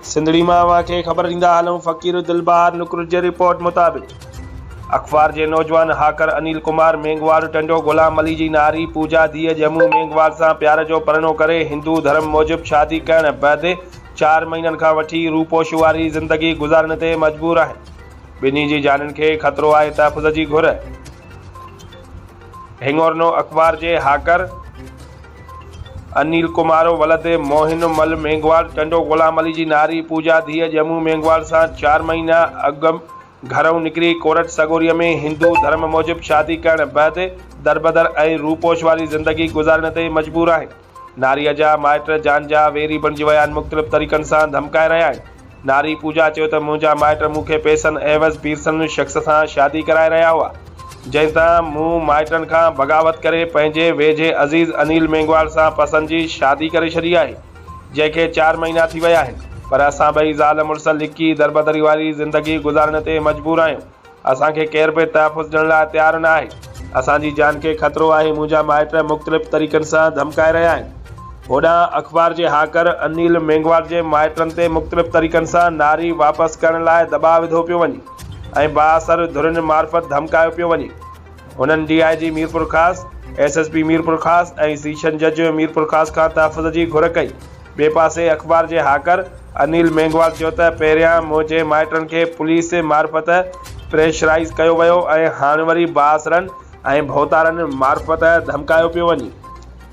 سنڌڙي مان اوهان کي خبر ڏيندا هلون فقير دل بهار نڪرج جي رپورٽ مطابق اخبار جي نوجوان هاڪر انيل ڪمار مينگهواڙ ٽنڊو غلام علي جي ناري پوجا ڌيء ڄمون مينگهواڙ سان پيار جو پرڻو ڪري هندو ڌرم موجب شادي ڪرڻ بعد چار مهينن کان وٺي روپوش واري زندگي گذارڻ تي مجبور آهن ٻنهي جي جانن کي خطرو آهي تحفظ جي گهر هڱورنو اخبار جي هاڪر انيل ڪمارو ولد موهن مل مينگهواڙ ٽنڊو غلام علي جي ناري پوجا ڌيء ڄمون مينگهواڙ سان چار مهينا اڳ گهرئون نڪري ڪورٽ سڳوريء ۾ هندو ڌرم موجب شادي ڪرڻ بعد دربدر ۽ روپوش واري زندگي گذارڻ تي مجبور آهن. ناريء جا مائٽ جان جا ويري بڻجي ويا آهن، مختلف طريقن سان ڌمڪائي رهيا آهن. ناري پوجا چيو ته منهنجا مائٽ مون کي پئسن عيوض پيرسن شخص سان شادي ڪرائي رهيا هئا، جنهن تان مون مائٽن کان بغاوت ڪري پنهنجي ويجهي عزيز انيل مينگهواڙ سان پسن جي شادي ڪري ڇڏي آهي، جنهن کي چار مهينا ٿي ويا آهن، پر اسان ٻئي زال مڙس لڪي دربدري واري زندگي گذارڻ تي مجبور آهيون. اسان کي ڪير به تحفظ ڏيڻ لاء تيار نه آهي. اسان جي جان کي خطرو آهي، منهنجا مائٽ مختلف طريقن سان ڌمڪائي رهيا آهن. هوڏانهن اخبار جي هاڪر انيل مينگهواڙ جي مائٽن تي مختلف طريقن سان ناري واپس ڪرڻ لاء دٻاء وڌو پيو وڃي ۽ بااثر ڌرين معرفت ڌمڪايو پيو وڃي. هنن D I G Mirpurkhas, S S P Mirpurkhas ۽ session جج ميرپورخاص کان تحفظ جي گهر ڪئي. ٻئي پاسي اخبار جي هاڪر انيل مينگهوال چيو ته پهريان منهنجي مائٽن کي پوليس معرفت پريشرائيز ڪيو ويو ۽ هاڻ وري بااثرن ۽ ڀوتارن معرفت ڌمڪايو پيو وڃي.